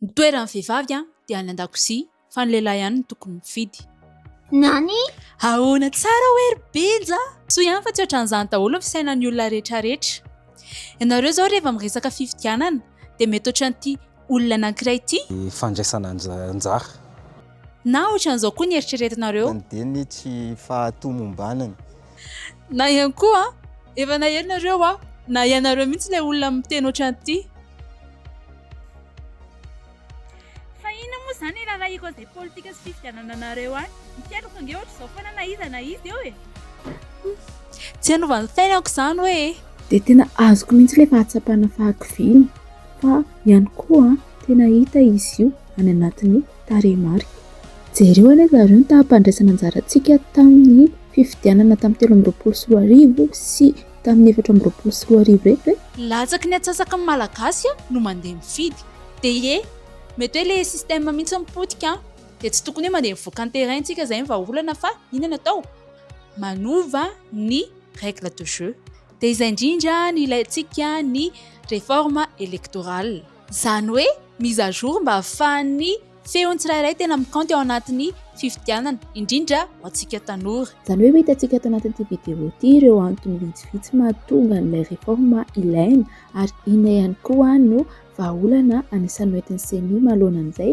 Ny toeran'ny vehivavy dia any an-dakozia fa ny lehilahy ihany no tokony mifidy. Nani? Ahoana tsara hoe ry Benja? Soa ihany fa tsy ohatran'izany daholo ny fisainan'ny olona rehetrarehetra. Ianareo izao rehefa miresaka fifidianana dia mety ohatran'ity olona anankiray ity. Ny fandraisana anjara. Na ohatran'izao koa ny eritreretinareo. Any dia ny tsy fahatomombanany. Na ihany koa, efa naherinareo aho, na ianareo mihitsy ilay olona miteny ohatran'ity. Fa inona moa izany e rarahiko an'izay politika sy fifidianana anareo any. Ny fiainako ange ohatr'izao foana na iza na iza eo e. Tsy hanova ny fiainako izany hoe e. Dia tena azoko mihitsy ilay fahatsapana fahakiviana fa ihany koa tena hita izy io any anatin'ny. Tarehimarika. Jereo anie zareo ny taham-pandraisana anjarantsika tamin'ny fifidianana tamin'ny telo amby roapolo sy roa arivo sy tamin'ny efatra amby roapolo sy roa arivo reto e! Latsaky ny atsasaky ny Malagasy no mandeha mifidy. Dia mety hoe ilay système mihitsy no potika an! Dia tsy tokony hoe mandeha mivoaka ny terrain tsika izay ny vahaolana fa inona no atao? Manova ny règle de jeu. Dia izay indrindra no ilaintsika ny réforme électorale. Izany hoe mise à jour mba hahafahan'ny feon'ny tsirairay tena mikaonty ao anatin'ny fifidianana, indrindra ho antsika tanora. Izany hoe ho hitantsika ato anatin'ity vidéo ity ireo antony vitsivitsy mahatonga an'ilay réforme ilaina ary inona ihany koa no vahaolana anisan'ny hoentin'ny ceni manoloana an'izay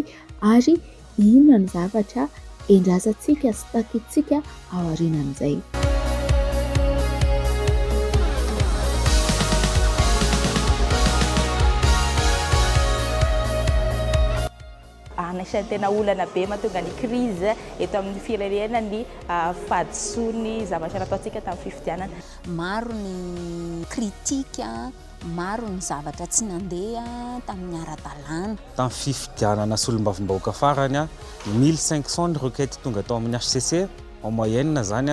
ary Inona ny zavatra endrasantsika sy takintsika aorianan'izay? Anisan'ny tena olana be mahatonga ny crise eto amin'ny firenena ny fahadisoan'ny zavatra nataontsika tamin'ny fifidianana. Maro ny critique. Maro ny zavatra tsy nandeha tamin'ny ara-dalàna. Tamin'ny fifidianana solombavambahoaka farany, mille cinq cent ny requête tonga tao amin'ny hcc, en moyenne izany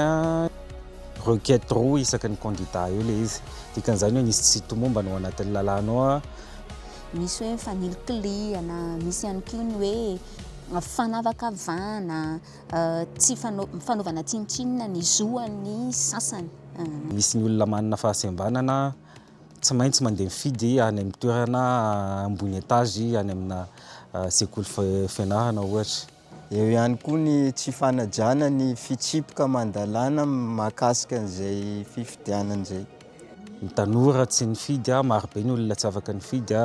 requête roa isaky ny candidat eo ilay izy. Dikan'izany hoe nisy tsy tomombana ao anatin'ny lalàna ao. Misy hoe fanilikilihana, misy ihany koa ny hoe fanavakavahana, tsy fanaovana tsinontsinona ny zo an'ny sasany. Misy ny olona manana fahasembanana Tsy maintsy mandeha mifidy any amin'ny toerana ambony etazy any amina sekoly fianarana ohatra. Eo ihany koa ny tsy fanajana ny fitsipika aman-dalàna mahakasika an'izay fifidianana izay. Ny tanora tsy nifidy, marobe ny olona tsy afaka nifidy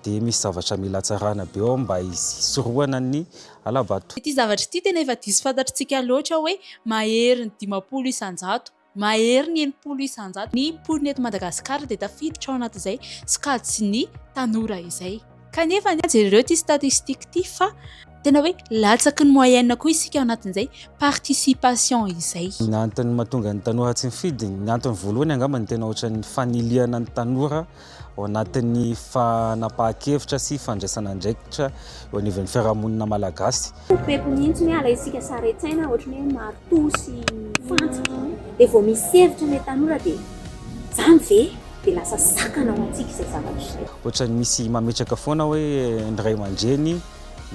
dia misy zavatra mila hatsarana be ao mba hisorohana ny hala-bato. Ity zavatra ity tena efa diso fantatr'tsika loatra hoe mahery ny dimampolo isan-jato. Mahery ny enimpolo isan-jato ny mponina eto Madagasikara dia tafiditra ao anatin'izay sokajy sy ny tanora izay. Kanefa anie jereo ity statistique ity fa tena hoe latsaky ny moyenne koa isika ao anatin'izay participation izay. Ny antony mahatonga ny tanora tsy mifidy, ny antony voalohany angamba ny tena ohatran'ny fanilihana ny tanora ao anatin'ny fanapahan-kevitra sy fandraisana andraikitra eo anivon'ny fiarahamonina malagasy. Pepepepy mihitsy ny ala isika, saren-tsaina ohatran'ny hoe maritoa sy fantsika, dia vao misy hevitra ilay tanora dia izany ve? dia lasa sakana ho antsika izay zavatra izay. Ohatran'ny misy mametraka foana hoe ny ray aman-dreny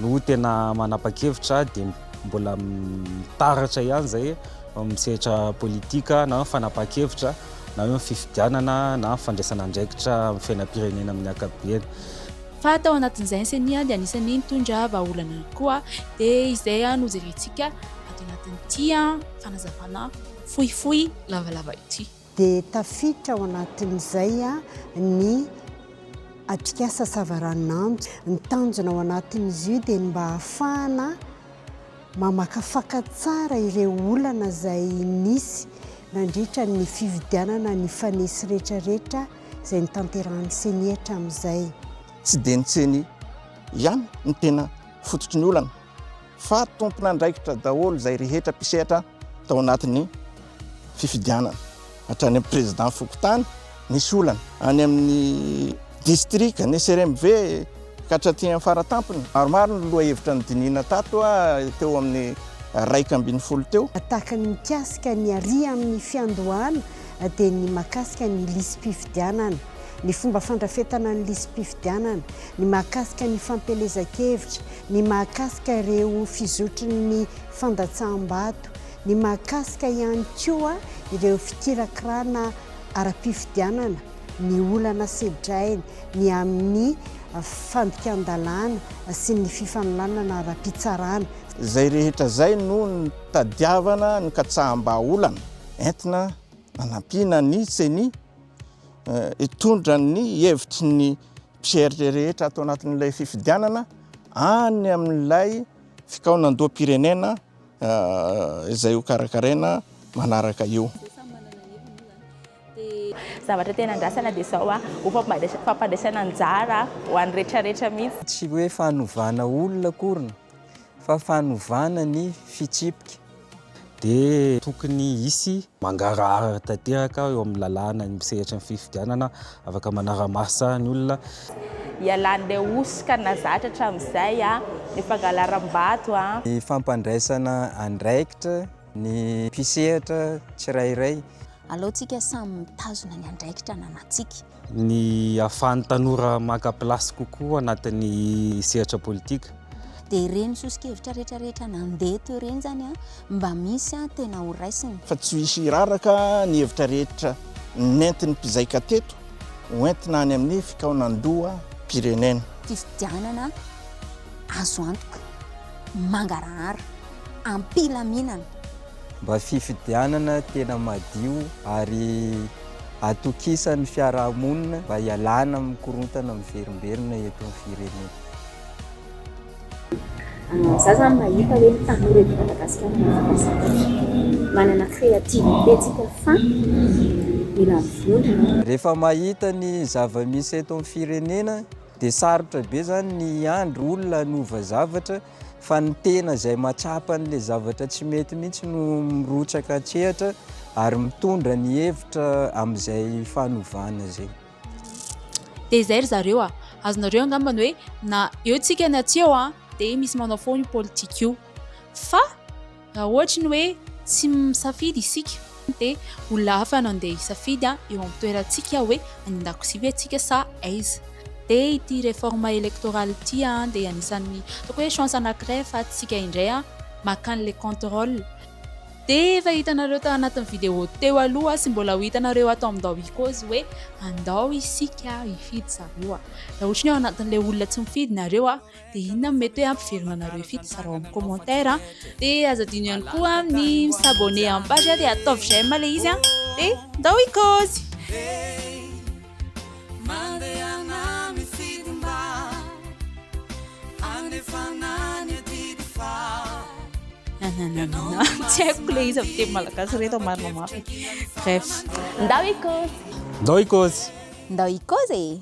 no tena manapa-kevitra dia mbola mitaratra ihany izay amin'ny sehatra politika na fanapahan-kevitra. na eo amin'ny fifidianana na amin'ny fandraisana andraikitra amin'ny fiainam-pirenena amin'ny ankapobeany. Fa tao anatin'izay ny ceni dia anisan'ny nitondra vahaolana ihany koa, dia izay no jerentsika ato anatin'ity fanazavana fohifohy lavalava ity. Dia tafiditra ao anatin'izay ny atrikasa savaranonando, ny tanjona ao anatin'izy io dia ny mba hahafahana. Mamakafaka tsara ireo olana izay nisy nandritra ny fividianana ny fanesy retraretra izay notanterahan'ny ceni hatramin'izay. Tsy dia ny ceni ihany no tena fototry ny olana fa tompon'andraikitra daholo izay rehetra mpisehatra tao anatin'ny. fifidianana hatrany amin'ny président fokontany nisy olana any amin'ny district ny CRMV ka hatraty amin'ny faratampony maromaro ny lohahevitra nodinihina tato teo amin'ny raika ambin'ny folo teo. Tahaka ny mikasika ny àry amin'ny fiandohana dia ny mahakasika ny lisi-pifidianana, ny fomba fandrafetana ny lisi-pifidianana, ny mahakasika ny fampielezan-kevitra, ny mahakasika ireo fizotry ny fandatsaham-bato, ny mahakasika ihany koa ireo fikirakirana ara-pifidianana, ny olana sedrainy, ny amin'ny fandikan-dalàna sy ny fifanolanana ara-pitsarana. Izay rehetra izay no nitadiavana ny katsaham-bahaolana entina hanampiana ny ceni hitondra ny hevitry ny mpieritre rehetra ato anatin'ilay fifidianana any amin'ilay fikaonandoham-pirenena izay ho karakaraina manaraka io. Zavatra tena andrasana dia izao, ho fampandresena anjara ho an'ny retraretra mihitsy. Tsy hoe fanovana olona akory fa fanovana ny fitsipika. Dia tokony hisy Mangarahara tanteraka aho eo amin'ny lalàna ny sehatry ny fifidianana, afaka manara-maso ny olona. Ialan'ilay hosoka nahazatra hatramin'izay ny fangalaram-bato. Ny fampandraisana andraikitra ny mpisehatra tsirairay. Aleontsika samy mitazona ny andraikitra ananantsika. ny ahafahan'ny tanora maka place kokoa anatin'ny sehatra politika. Dia ireny soso-kevitra rehetra rehetra nandeha teo ireny izany mba misy tena ho raisina. Fa tsy hisy hiraraka ny hevitra rehetra nentin'ny mpizaika teto ho entina any amin'ny fikaonandoham-pirenena. Fifidianana azo antoka, mangarahara, am-pilaminana. Mba fifidianana tena madio ary. atokisan'ny fiarahamonina mba hialana amin'ny korontana miverimberina eto amin'ny firenena. Za zany mahita hoe ny tanora eto Madagasikara mahavita zavatra, manana créativité tsika fa mila mivondrona. Rehefa mahita ny zava-misy eto amin'ny firenena dia sarotra be zany ny hiandry olona hanova zavatra fa ny tena izay mahatsapa an'ilay zavatra tsy mety mihitsy no mirotsaka an-tsehatra ary mitondra ny hevitra amin'izay fanovana izay. Dia izay ry zareo a! Azonareo angamba ny hoe na eo tsika na tsy eo a! dia misy manao foana io politika io fa. Raha ohatry ny hoe tsy misafidy isika dia ho lava no andeha hisafidy eo amin'ny toerantsika hoe any an-dakozia ve isika sa aiza. Dia ity réforme électorale ity dia anisan'ny ataoko hoe chance anankiray ahafahantsika indray makany le contrôle. Dia efa hitanareo tao anatin'ny vidéo teo aloha sy mbola ho hitanareo ato amin'ny ndao ikozy hoe andao isika hifidy zareo. Raha ohatry ny hoe ao anatin'ilay olona tsy mifidy nareo. Dia inona no mety hoe hampivelona anareo ifito? Zarao amin'ny commentaire an! Dia aza adino ihany koa ny mi s'abonner amin'ny page an! Dia ataovy j'aime ilay izy an! Dia ndao hikaozy! Nananana Tsy haiko ilay izy amin'ny teny malagasy ireto an! Marina mafy e! Bref! Ndao hikaozy! Ndao hikaozy! Ndao hikaozy e!